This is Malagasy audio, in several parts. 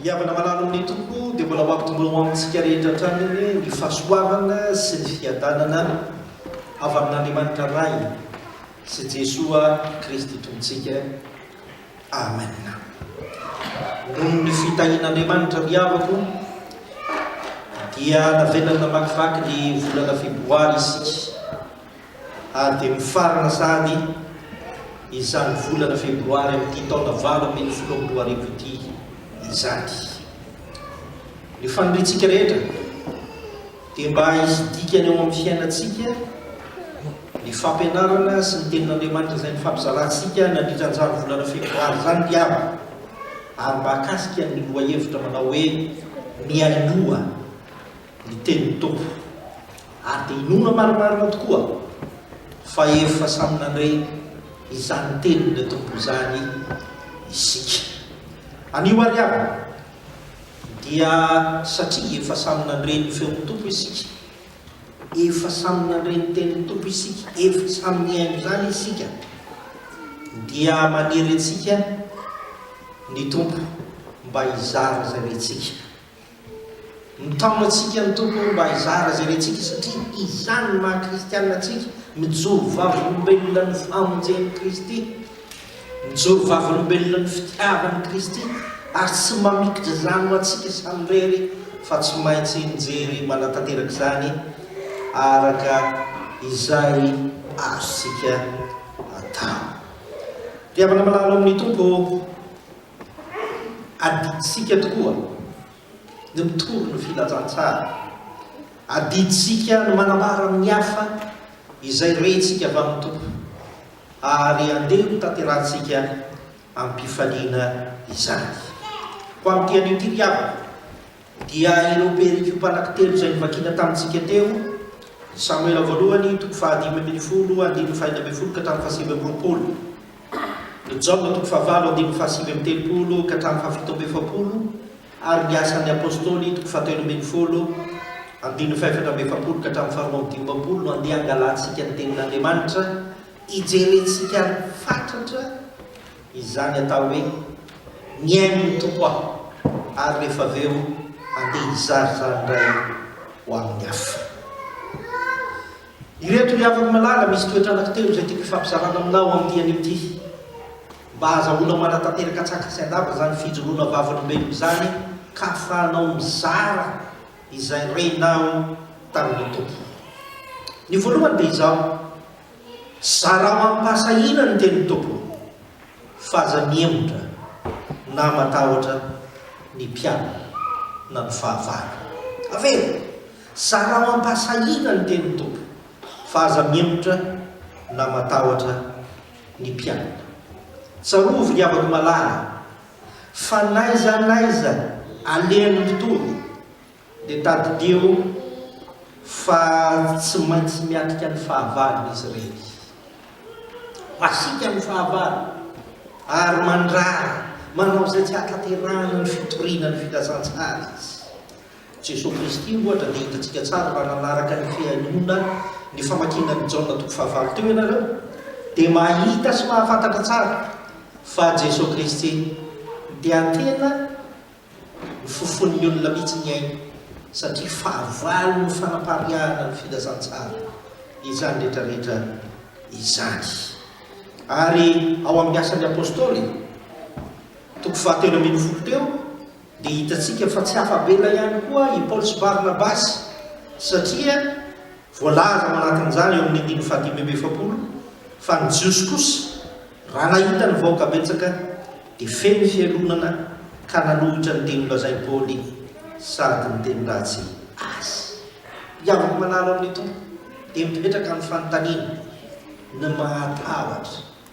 Ny havana malalo amin'ny Tompo dia mbola mampitombola ho amintsika rehetra hatrany ny fahasoavana sy ny fiadanana avy amin'Andriamanitra Ray sy Jesoa Kristy Tompontsika. Amen. Noho ny fitahian'Andriamanitra ny havako dia navelany namakivaky ny volana febroary isika ary dia mifarana sahady izany volana febroary amin'ity taona valo ambin'ny folo amby roa arivo ity izany. Ny faniriantsika rehetra Dia mba hisy dikany ao amin'ny fiainantsika ny fampianarana sy ny Tenin'Andriamanitra izay nifampizalantsika nandritra an'izany volana febroary izany ry havana. Ary mahakasika ny lohahevitra manao hoe Mihainoa ny Tenin'ny Tompo. Ary dia inoana marimarina tokoa fa efa samy nandre izany Tenin'ny Tompo izany isika. Anio ary havana. Dia satria efa samy nandre ny feon'ny Tompo isika, efa samy nandre ny tenin'ny Tompo isika, efa samy nihaino izany isika, dia manery antsika ny Tompo mba hizara izay rentsika. Mitaona antsika ny Tompo mba hizara izay rentsika satria izany no maha-kristiana antsika, mijoro vavolombelona ny famonjen'i Kristy. Mijoro vavolombelona ny fitiavan'i Kristy ary tsy mamikitra izany ho antsika samirery fa tsy maintsy mijery manatanteraka izany araka izay azontsika atao. Ry havana malala ao amin'ny Tompo, adidintsika tokoa ny mitory ny filazantsara. Adidintsika ny manambara amin'ny hafa izay rentsika avy amin'ny Tompo. ary andeha hotanterahantsika amim-pifaliana izany. Ho amin'ity anio ity, ry havana, dia ireo perikopa anankitelo izay novakina tamintsika teo, Samoela voalohany, toko fahadimy ambin'ny folo, andininy fahenina ambin'ny folo ka hatramin'ny fahasivy amby roapolo, Joba, toko fahavalo, andininy fahasivy amby telopolo ka hatramin'ny fahafito amby efapolo, Ary ny Asan'ny Apôstôly toko fahatelo ambin'ny folo, andininy fahefatra amby efapolo ka hatramin'ny faharoa amby dimampolo no handeha hangalantsika ny Tenin'Andriamanitra, hijerentsika fatratra izany atao hoe mihaino ny Tompo aho ary rehefa avy eo handeha hizara izany indray ho amin'ny hafa. Ireto ry havako malala, misy toetra anankitelo izay tiako hifampizarana aminao amin'ity anio ity. Mba azahoana manatanteraka tsaka sy andava izany fijoroana vavolombelona izany ka ahafahanao mizara izay renao tamin'ny Tompo. Ny voalohany dia izao, zarao amim-pahasahiana ny tenin'ny Tompo fa aza mihemotra na matahotra ny mpianany na ny fahavalo. Avela, zarao amim-pahasahiana ny tenin'ny Tompo fa aza mihemotra na matahotra ny mpianaka. Tsarovy ry havako malala fa n'aiza n'aiza alehan'ny mpitory dia tadidio fa tsy maintsy miatrika ny fahavalony izy ireny. Masiaka ny fahavalo ary mandrara manao izay tsy ahatanterahana ny fitoriana ny filazantsara izy. Jesoa Kristy, ohatra, dia hitantsika tsara raha nanaraka ny fihainoana ny famakiana ny Jaona toko fahavalo teo ianareo, dia mahita sy mahafantatra tsara fa Jesoa Kristy Mpiantena no fofonin'ny olona mihitsy ny ainy, satria fahavalo no fanapariahana ny filazantsara izany rehetra rehetra izany. Ary ao amin'ny Asan'ny Apostoly, toko fahatelo ambin'ny folo teo, Dia hitantsika fa tsy afa-bela ihany koa i Paoly sy Barnabasy, satria voalaza ao anatin'izany eo amin'ny andininy fahadimy amby efapolo fa ny Jiosy kosa, raha nahita ny vahoaka betsaka, dia feno fialonana ka nanohitra ny teny nolazain'i Paoly sady niteny ratsy azy. Mpiavaka manaraka ny Tompo dia mipetraka amin'ny fanontaniana ny mahatahotra.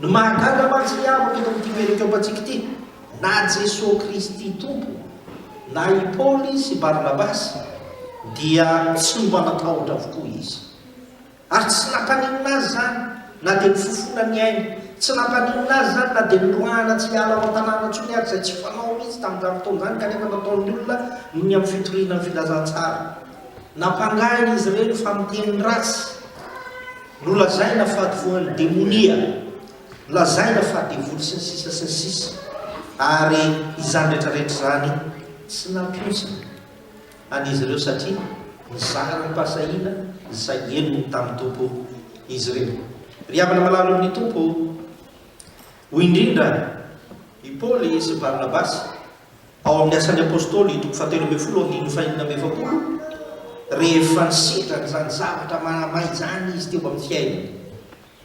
Ny mahagaga mantsy ry havako eto amin'ity perikôpantsika ity, na Jesoa Kristy Tompo, na i Paoly sy Barnabasy dia tsy mba natahotra avokoa izy. Ary tsy nampaninona azy izany na dia ny fofona ny ainy, tsy nampaninona azy izany na dia noroahana tsy hiala ao an-tanàna intsony ary, izay tsy fanao mihitsy tamin'izany fotoana izany kanefa nataon'ny olona noho ny amin'ny fitoriana ny filazantsara. Nampangahiny izy ireny fa miteny ratsy. Nolazaina fa voan'ny demonia, lazaina fa devoly sy ny sisa sy ny sisa ary izany rehetra rehetra izany tsy nampionjina an'izy ireo satria nizara ny pasahiana izay henony tamin'ny Tompo izy ireo. Ry havana malalo amin'ny Tompo o! Hoy indrindra i Paoly sy Barnabasy. Ao amin'ny Asan'ny Apostoly, toko fahatelo ambin'ny folo, andininy fahenina amby efapolo, rehefa nisedra an'izany zavatra manamay izany izy teo amin'ny fiainany,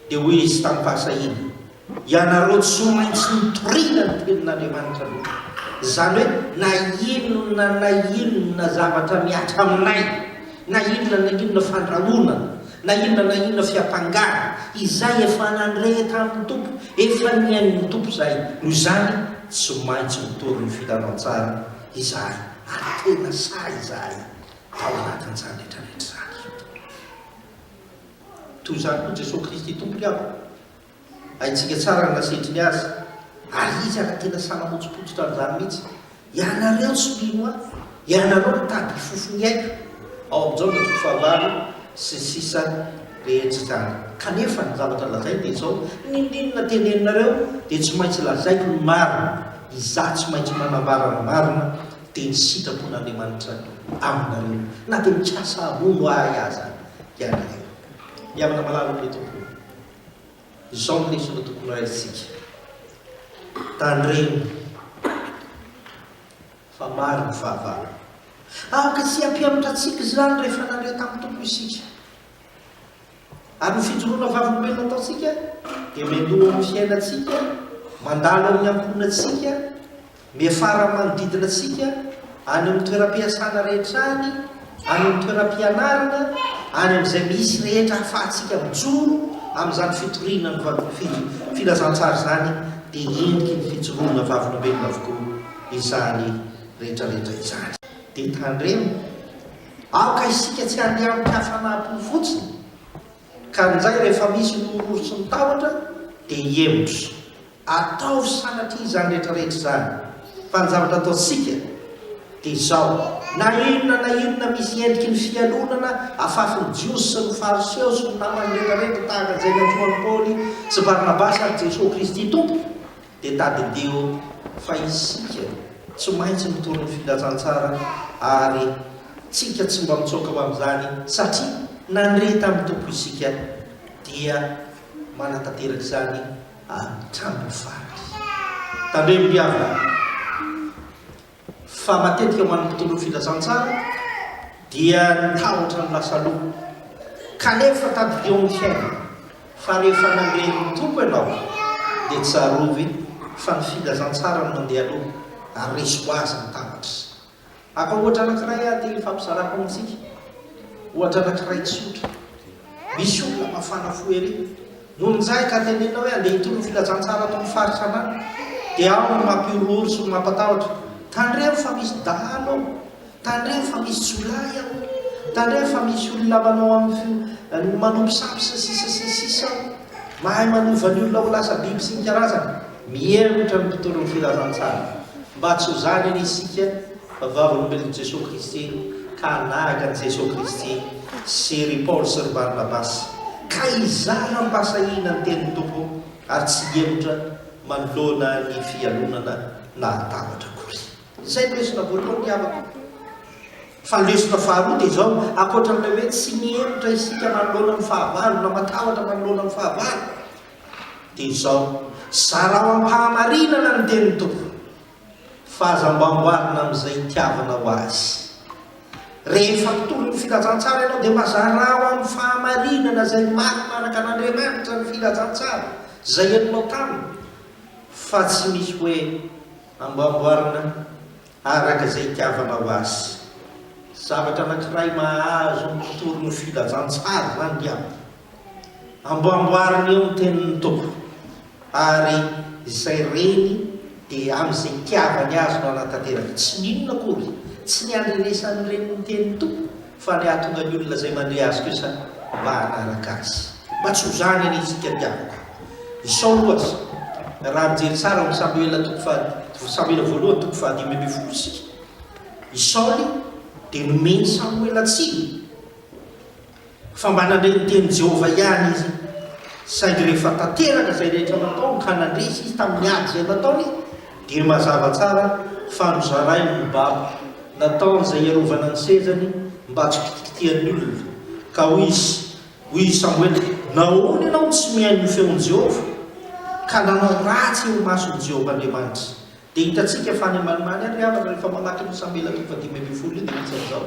dia hoy izy tamim-pahasahiana, Ianareo tsy maintsy nitoriana ny tenin'Andriamanitra aloha. Izany hoe, na inona na inona zavatra mihatra aminay, na inona na inona fandrahonana, Na inona na inona fiampangana izay efa nandre tamin'ny Tompo, efa nihainon'ny Tompo izay. Noho izany, tsy maintsy mitory ny filanao tsara izahay, ary tena sahy izahay tao anatin'izany rehetrarehetra izany. Toy izany koa Jesoa Kristy Tompo ry havana, Haintsika tsara ny lasetriny azy. Ary izy ary tena sahy namotsipotsitra an'izany mihitsy. Ianareo tsy mino ahy, ianareo mitady hifofo ny aiko. Ao amin'ny Jaona toko fahavalo sy ny sisa rehetra izany. Kanefa ny zavatra lazainy dia izao, Ny ndinina teneninareo dia tsy maintsy lazaiko ny marina. Izaho tsy maintsy manambara ny marina, dia ny sitrapon'Andriamanitra aminareo. Na dia mikasa hamono ahy aza ianareo. Mihavana malala amin'ilay Tompo. Izao ny lesona tokony raisintsika. Tandremo fa maro ny fahavalo. Afaka tsy hampianatra antsika izany rehefa nandre tamin'ny Tompo isika. Ary ny fijoroana vavolombelona ataontsika dia miandoha amin'ny fiainantsika, mandalo amin'ny ankohonantsika, Miafara amin'ny manodidina antsika, any amin'ny toeram-piasana rehetra any, any amin'ny toeram-pianarana, any amin'izay misy rehetra ahafahantsika mijoro amin'izany fitoriana ny Filazantsara izany dia endriky ny fijoroana vavolombelona avokoa izany rehetrarehetra izany. Dia tandremo, aoka isika tsy handeha amin'ny hafanam-po fotsiny ka injay rehefa misy ny nororitry ny tahotra dia hihemotra. Ataovy sanatria izany rehetra rehetra izany, fa ny zavatra ataontsika dia izao, na inona na inona misy endriky ny fialonana afafy ny Jiosy sy ny Fariseo sy ny namany rehetra rehetra tahaka izay niantsoan'i Paoly sy Barnabasy azy Jesoa Kristy Tompo, dia tadidio fa isika tsy maintsy mitory ny filazantsara ary tsika tsy mba mitsoaka ho amin'izany satria nandre tamin'ny Tompo isika dia manatanteraka izany hatramin'ny farany. Tandremo ry havana fa matetika ho an'ny mpitondra ny filazantsara dia ny tahotra no lasa loha, kanefa tadidio ny fiainana fa rehefa nandre ny Tompo ianao dia tsarovy fa ny filazantsara no mandeha aloha ary resy ho azy ny tahotra. Atao ohatra anankiray ary ity ifampizarako amintsika. Ohatra anankiray tsotra. Misy olona mafana fo ery. Nonjay ka tenenina hoe andeha hitondra filazantsara ato amin'ny faritra anany. Dia ao ny mampihorohoro sy ny mampatahotra. Tandremo fa misy dahalo ao. Tandremo fa misy jiolahy ao. Tandremo fa misy olona manao amin'ny manompo sampy sy ny sisa sy ny sisa ao. Mahay manova ny olona ho lasa biby sy ny karazany. Mihemotra ny mpitolon'ny filazantsara mba tsy ho zany anie isika fa vavolombelon'i Jesoa Kristy ka hanahaka an'i Jesoa Kristy sy ry Paoly sy ry Barnabasy ka hizaha hampahasahiana ny tenin'ny Tompo ary tsy hihemotra manoloana ny fialonana nahatahotra akory. Izay no lesona voalohany ry havako. Fa ny lesona faharoa dia izao, ankoatran'ilay hoe tsy mihemotra isika manoloana ny fahavalo na matahotra manoloana ny fahavalo Dia izao, zarao am-pahamarinana ny tenin'ny Tompo, fa aza mba amboarina amin'izay itiavanao Azy. Rehefa mpitory ny filazantsara ianao, dia mba zarao amin'ny fahamarinana izay marina araka an'Andriamanitra ny filazantsara, izay henonao taminy, fa tsy misy hoe amboamboarina Araka izay itiavanao azy. Zavatra anankiray mahazo ny mpitory ny filazantsara izany dia amboamboariny eo ny tenin'ny Tompo, ary izay reny dia amin'izay itiavany azy no hanatanteraka, tsy ny inona akory, tsy ny handrenesan'ny reny ny tenin'ny Tompo, Fa ny ahatonga ny olona izay mandre azy kosa mba hanaraka azy. Mba tsy ho zany anie isika tiako. I Saoly ohatra, raha mijery tsara ao amin'ny Samoela toko faha, Samoela voalohany toko fahadimy ambin'ny folo isika, i Saoly dia nomen'i Samoela tsiny fa mba nandre ny tenin'i Jehovah ihany izy. Saingy rehefa tanteraka izay rehetra nataony ka nandresy izy tamin'ny ady izay nataony, Dia mazava tsara fa nozarainy ny babo, nataon'izay hiarovana ny sezany mba tsy kitikitihan'ny olona. Ka hoy izy, hoy i Samoela, Nahoana ianao no tsy mihaino ny feon'i Jehovah, ka nanao ratsy eo imason'i Jehovah Andriamanitra? Dia hitantsika fa any Alemana any, ry havana, rehefa mamaky an'io Samoela toko fahadimy ambin'ny folo io, dia misy an'izao.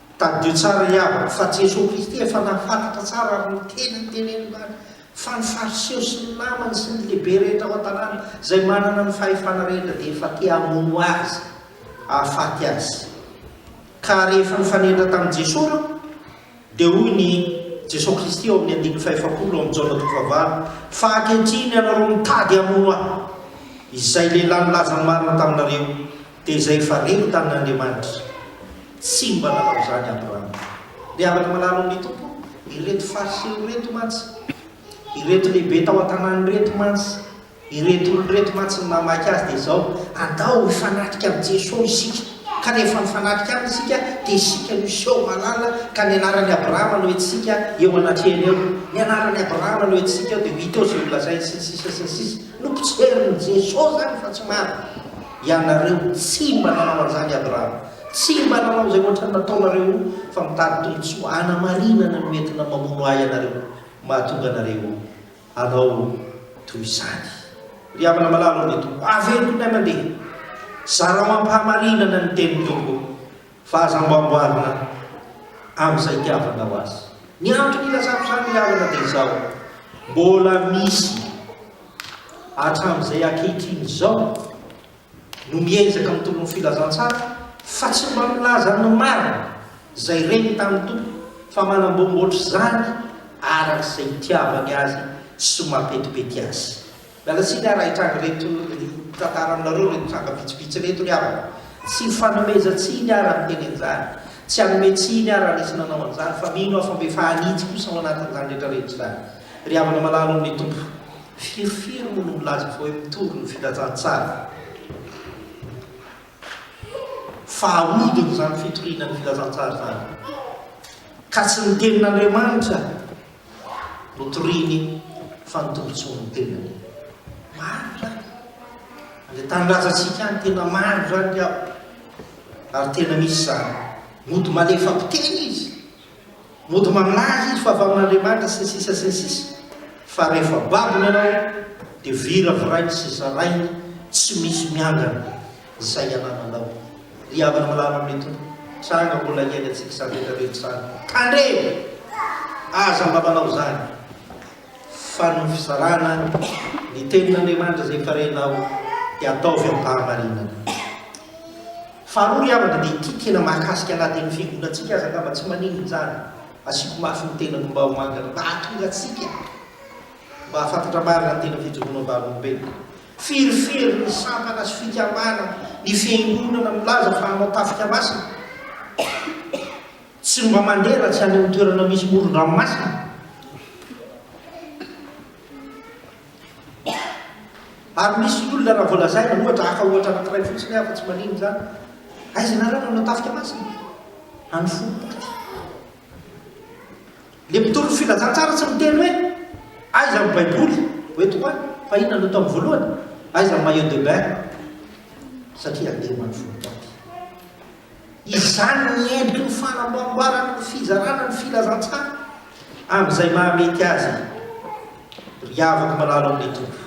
Tadidio tsara i Ava fa Jesoa Kristy efa nahafantatra tsara ary niteny ny teneniny tamin'ny fa ny Fariseo sy ny namany sy ny lehibe rehetra ao an-tanàna izay manana ny fahefana rehetra dia efa te hamono Azy, hahafaty Azy. Ka rehefa nifanendra tamin'i Jesoa ireo dia hoy ny Jesoa Kristy ao amin'ny andininy fahefapolo ao amin'ny Jaona toko fahavalo fa ankehitriny ianareo mitady hamono Ahy izay lehilahy nilaza ny marina taminareo. Dia izay efa reny tamin'Andriamanitra. Tsy mba nanao izany Abrahama. Dia afaka manarona ny Tompo ireto Fariseo ireto mantsy, ireto lehibe tao an-tanàna ireto mantsy, ireto olona ireto mantsy ny namaky azy dia izao, Andao hifanatrika amin'i Jeso isika. Ka rehefa mifanatrika Aminy isika dia isika no hiseho malala, ka ny anaran'i Abrahama no entintsika eo anatrehany eo. Ny anaran'i Abrahama no entintsika eo dia ho hita eo izay holazainy sy ny sisa sy ny sisa. Nopotseriny Jeso izany fa tsy maro. Ianareo tsy mba nanao an'izany ady rano, tsy mba nanao izay ohatrany nataonareo fa mitady tombotsoa hanamarinana ny hoentina mamono ahy ianareo mahatonga anareo hanao toy izany. Ry havana malala ô, ny Tompo, aventony na mandeha, zarao am-pahamarinana ny tenin'ny Tompo. Fa aza mba amboarina amin'izay itiavanao azy. Ny antony ilazako izany ry havana dia izao, mbola misy hatramin'izay ankehitriny izao no miezaka mitolona ny filazantsara fa tsy mba milaza ny marina izay reniny tamin'ny Tompo fa manamboamboatra izany araka izay itiavany azy sy mapetipety azy. Miala tsiny ary hahitranga ireto tantara aminareo ireto tranga vitsivitsy ireto ry havana. Tsy fanomezan-tsiny aho raha miteny an'izany. Tsy hanome tsiny aho raha nisy nanao an'izany fa mino aho fa mbe fahanitsy kosa ao anatin'izany rehetra rehetra izany. Ry havana malala ao amin'ny Tompo. Firy firy moa no milaza fa hoe mitory ny filazantsara. Fa ahodina izany fitoriana ny filazantsara izany. Ka tsy ny tenin'Andriamanitra. Notoriny fa ny tombontsoa ny tenany. Marina izany. Ilay tanindrazantsika any tena marina izany ry aho. Ary tena misy izany. Mody malefa mpiteny izy. Mody mamlaza izy fa avy amin'Andriamanitra sy ny sisa sy ny sisa. Fa rehefa babony ianao dia viravirainy sy zarainy tsy misy miangana. Izay anananao. Ry havana malala amin'ny Tompo, tranga mbola hiainantsika izany rehetra rehetra izany. Tandremo! Aza mba manao izany, fa ny fizarana ny Tenin'Andriamanitra izay efa renao dia ataovy amim-pahamarinana. Faharoa ry havana dia ity tena mahakasika na dia ny fiangonantsika aza angamba tsy maninona izany. Asiako mafy ny tenako mba ho mangana, mba hahatonga antsika mba hahafantatra marina ny tena fijoroana am-bavolombelona. Firifirin'ny sampana sy fikamana ny fiangonana milaza fa hanao tafika masina, tsy mba mandeha raha tsy any amin'ny toerana misy moron-dranomasina. Ary misy ny olona raha vao lazaina, ohatra, haka ohatra anankiray fotsiny aho fa tsy manino izany, aiza ianareo no hanao tafika masina? Any Foibe aty. Ilay mpitolon'ny filazantsara tsy miteny hoe, Aiza ny Baiboly? Hoe tokoa, fa inona no ataony voalohany? Aiza ny maillot de bain? Satria andeha ho any voaboaty. Izany ny endriky ny fanamboamboarana ny fizarana ny filazantsara amin'izay mahamety azy. Ry havako malalo amin'ny Tompo,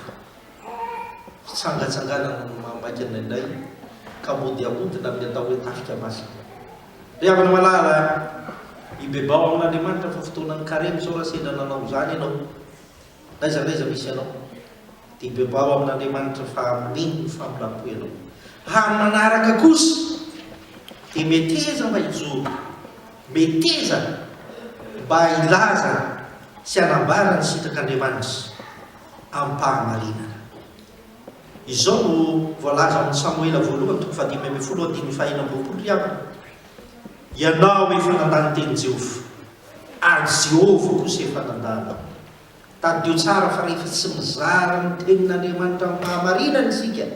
fitsangatsanganana no maha maika anay indray ka mody ahodina amin'ny atao hoe tafika masina. Ry havana malala a! Mibebao amin'Andriamanitra fa fotoanan'ny Karemy sao raha sendra nanao izany ianao, n'aiza n'aiza misy anao, dia hibebao amin'Andriamanitra fa amin'iny no famindrampò ianao. Amin'ny manaraka kosa dia meteza mba hijoro, meteza mba hilaza sy hanambara ny sitrak'Andriamanitra. am-pahamarinana. Izao no voalaza ao amin'ny Samoela voalohany toko fahadimy ambin'ny folo andininy fahenina amby roapolo ry havana, Ianao efa nandà ny tenin'i Jehovah, ary Jehovah kosa efa nandà anao. Tadidio tsara fa rehefa tsy mizara ny tenin'Andriamanitra amim-pahamarinana isika,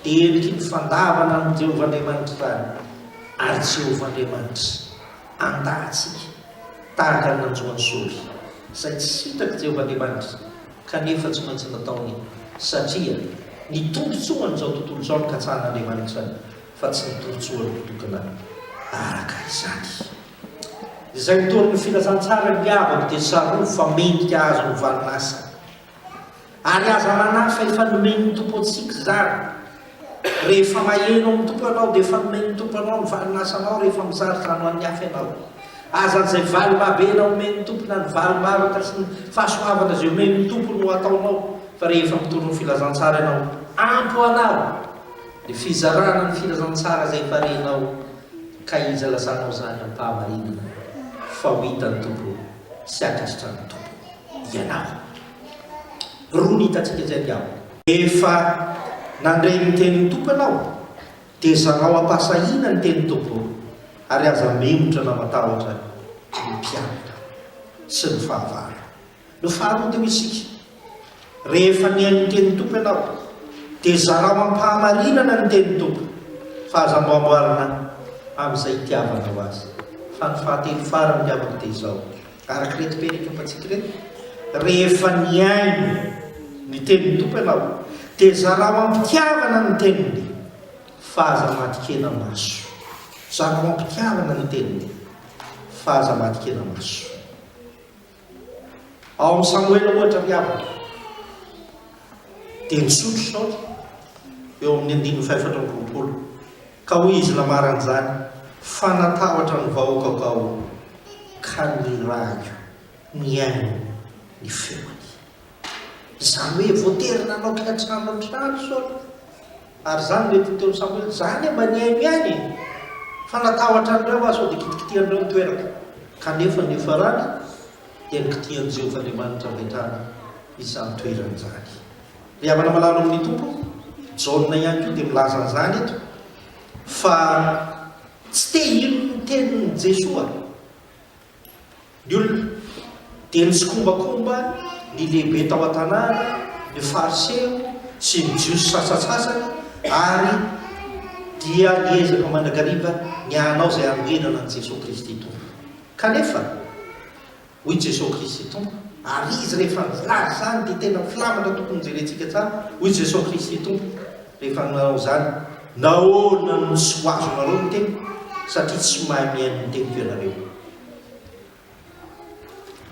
dia endriky ny fandavana an'i Jehovah Andriamanitra izany, ary Jehovah Andriamanitra. Andahintsika tahaka ny nanjo an'i Saoly, izay tsy sitraka i Jehovah Andriamanitra, kanefa tsy maintsy nataony, satria ny tombontsoan'izao tontolo izao no katsahan'Andriamanitra, fa tsy ny tombontsoany mitokana araka izany. Izay nitory ny filazantsara niavaka dia tsarovy fa mendrika hahazo ny valin'asa Ary aza manahy fa efa nomen'ny Tompo antsika izany. Rehefa maheno amin'ny Tompo ianao dia efa nomen'ny Tompo anao ny valinasanao rehefa mizara izany ho an'ny hafa ianao. Aza izay valimabena omen'ny Tompo na ny valimavaka sy ny fahasoavana izay omen'ny Tompo no ataonao fa rehefa mitondra ny filazantsara ianao ampy ho anao ny fizarana ny filazantsara izay efa renao ka iza lasanao izany am-pahamarinana fa ho hitan'ny Tompo sy hankasitrahan'ny Tompo. ianarana. Roa ny hitantsika izay ry havana. Rehefa nandre ny tenin'ny Tompo ianao dia zarao am-pahasahiana ny tenin'ny Tompo ary aza memotra na matahotra ny mpianatra sy ny fahavalo. Ny faharoa dia hoy isika, rehefa nihaino ny tenin'ny Tompo ianao dia zarao am-pahamarinana ny tenin'ny Tompo fa aza amboamboarina amin'izay itiavanao Azy. Fa ny fahatelo farany ry havana dia izao, Araka ireto teny ipopantsika ireto, Rehefa nihaino ny tenin'ny Tompo ianao, dia zarao am-pitiavana ny teniny, fa aza matikena maso. Zarao am-pitiavana ny teniny, fa aza matikena maso. Ao amin'ny Samoela, ohatra, ry havana, Dia nisotro saotra eo amin'ny andininy fahefatra amby roapolo, ka hoy izy namaran'izany, Fa natahotra ny vahoakako aho, ka nirahiko nihaino ny feony. Izany hoe voatery nanao kiantrano hatrany Saoly. Ary izany mety nitaon'i Samoela, Izaho anie mba nihaino ihany e! Fa natahotra an'ireo aho sao dia kitikitihan'ireo ny toerako. Kanefa niafarany. dia ny kitihan'i Jehovah Andriamanitra avy hatrany izany toerana izany. Ry havana malalo amin'ny Tompo, Jaona ihany koa dia milaza an'izany eto, fa tsy te hino ny tenin'i Jesoa ny olona, dia nitsikombakomba ny lehibe tao an-tanàna, ny Fariseo sy ny Jiosy sasantsasany, ary dia niezaka mandrakariva ny hanao izay hanoherana an'i Jesoa Kristy Tompo. Kanefa, hoy i Jesoa Kristy Tompo, ary izy rehefa milaza izany dia tena filamatra tokony hojerentsika tsara, hoy Jesoa Kristy Tompo rehefa nanao izany, Nahoana no tsy ho azonareo ny teniko, satria tsy mahay mihaino ny teniko ianareo.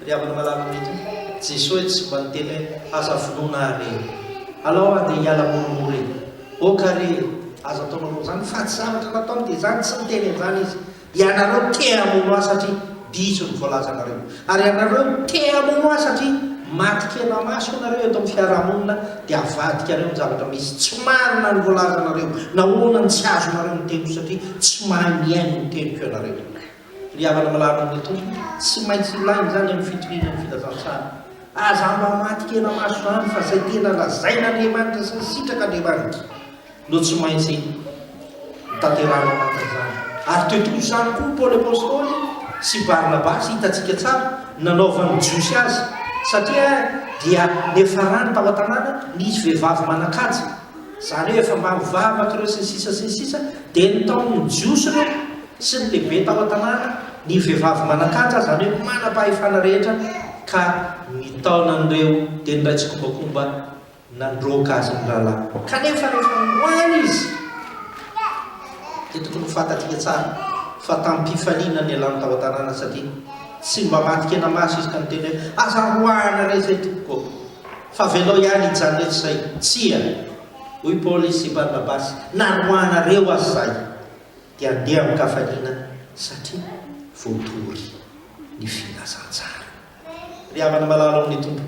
Ry havana malala amin'i Tompo, Jesoa etsy tsy mba niteny hoe, Aza vonoina ahy re! Alao aho dia hiala moramora e! Aoka re! Aza ataonareo izany, fa tsy zavatra nataony dia izany, tsy niteny an'izany izy. Ianareo te hamono ahy satria diso ny voalazanareo. Ary ianareo te hamono ahy satria maty kena maso ianareo eto amin'ny fiarahamonina dia avadikareo ny zavatra misy. Tsy marina ny voalazanareo. Nahoana no tsy azonareo ny teniko satria tsy mahay mihaino ny teniko ianareo. Ry havana malahelo amin'ny Tompo, tsy maintsy ilaina izany amin'ny fitoriana ny filazantsara. Aza mba maty kena maso izany fa izay tena lazain'Andriamanitra sy ny sitrak'Andriamanitra. no tsy maintsy hotanterahina tahaka izany. Ary toy toy izany koa Paoly Apostoly sy Barnabasy, hitantsika tsara, nanaovan'ny Jiosy azy, satria dia niafarany tao an-tanàna nisy vehivavy manan-kaja, izany hoe efa maro vavaka ireo sy ny sisa sy ny sisa, dia nitaon'ny Jiosy ireo sy ny lehibe tao an-tanàna ny vehivavy manan-kaja, izany hoe manam-pahefana rehetra, ka nitaona an'ireo dia niray tsikombakomba nandroaka azy ny rahalahy. Kanefa rehefa niroahana izy, dia tokony ho fantatsika tsara fa tamim-pifaliana nialany tao an-tanàna satria tsy mba maty kena maso izy ka niteny hoe, Aza roahana re izay tompoko ô, fa avelao ihany hijanona eto izay. Tsia, hoy Paoly sy Barnabasy, na roahanareo aza izahay, dia handeha amin-kafaliana satria voatory ny filazantsara. Ry havana malala ao amin'ny Tompo,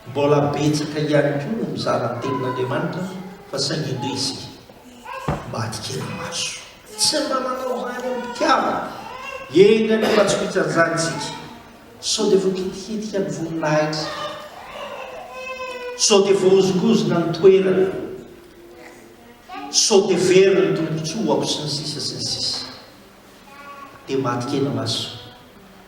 Mbola betsaka ihany koa no mizara ny tenin'Andriamanitra fa saingy indrisy isika mba atikena maso. Tsy mba manao izany amim-pitiavana. Enga anie mba tsy ho ijanjana isika. Sao dia voakitikitika ny voninahitra. Sao dia voahozongozona ny toerana. Sao dia very ny tombontsoako sy ny sisa sy ny sisa. Dia mba atikena maso.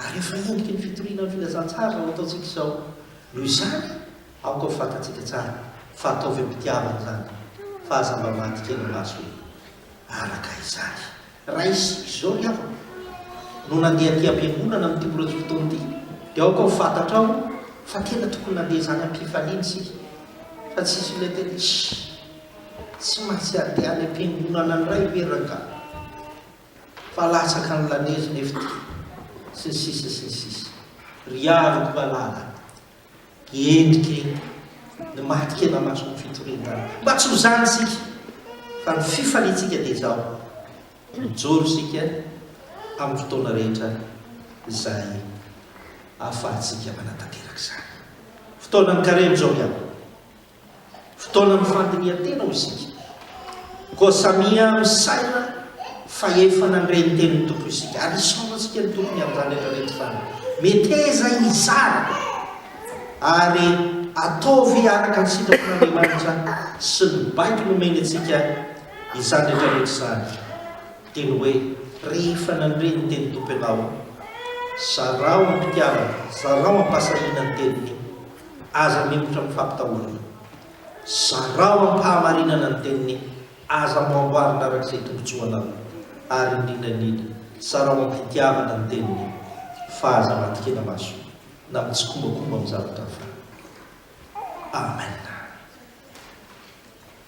Ary efa hentitra ny fitoriana ny filazantsara izao ataontsika izao. Noho izany, aoka ho fantatsika tsara fa ataovy am-pitiavana izany, fa aza mba maty kely maso hoe, Araka izany. Raha isika izao ry havako no nandeha aty am-piangonana amin'ity mbola tsy fotoana ity, dia aoka ho fantatrao fa tena tokony nandeha izany am-pifaliana isika, fa tsy hisy olona hiteny hoe, Shh! Tsy maintsy handeha any am-piangonana indray ve rangahy? fa latsaka ny lanezy nefty sy ny sisa sy ny sisa ry aroko malala endrike ny maty kena maso ny fitorian-dala mba tsy ho zany isika fa ny fifaliantsika dia izao mijoro isika amin'ny fotoana rehetra izay ahafahantsika manatanteraka izany fotoana ny karemy izao miabo Fotoanan'ny fandinihan-tena hoy isika, koa samia misaina fa efa nandre ny tenin'ny Tompo isika, ary hisaorantsika ny Tompo ny amin'izany rehetra rehetra izany. Meteza izany, ary ataovy araka ny sitrapon'Andriamanitra sy ny baiko nomeny antsika izany rehetra rehetra izany. Dia ny hoe, rehefa nandre ny tenin'ny Tompo ianao, zarao am-pitiavana, zarao am-pahasahiana ny teniny. Aza mihemotra amin'ny fampitahorana. Zarao amim-pahamarinana ny teniny, aza amboamboarina araka izay tombontsoanao, ary indrindra indrindra, zarao amim-pitiavana ny teniny, fa aza matikena maso na mitsikombakomba amin'ny zavatra hafa. Amena.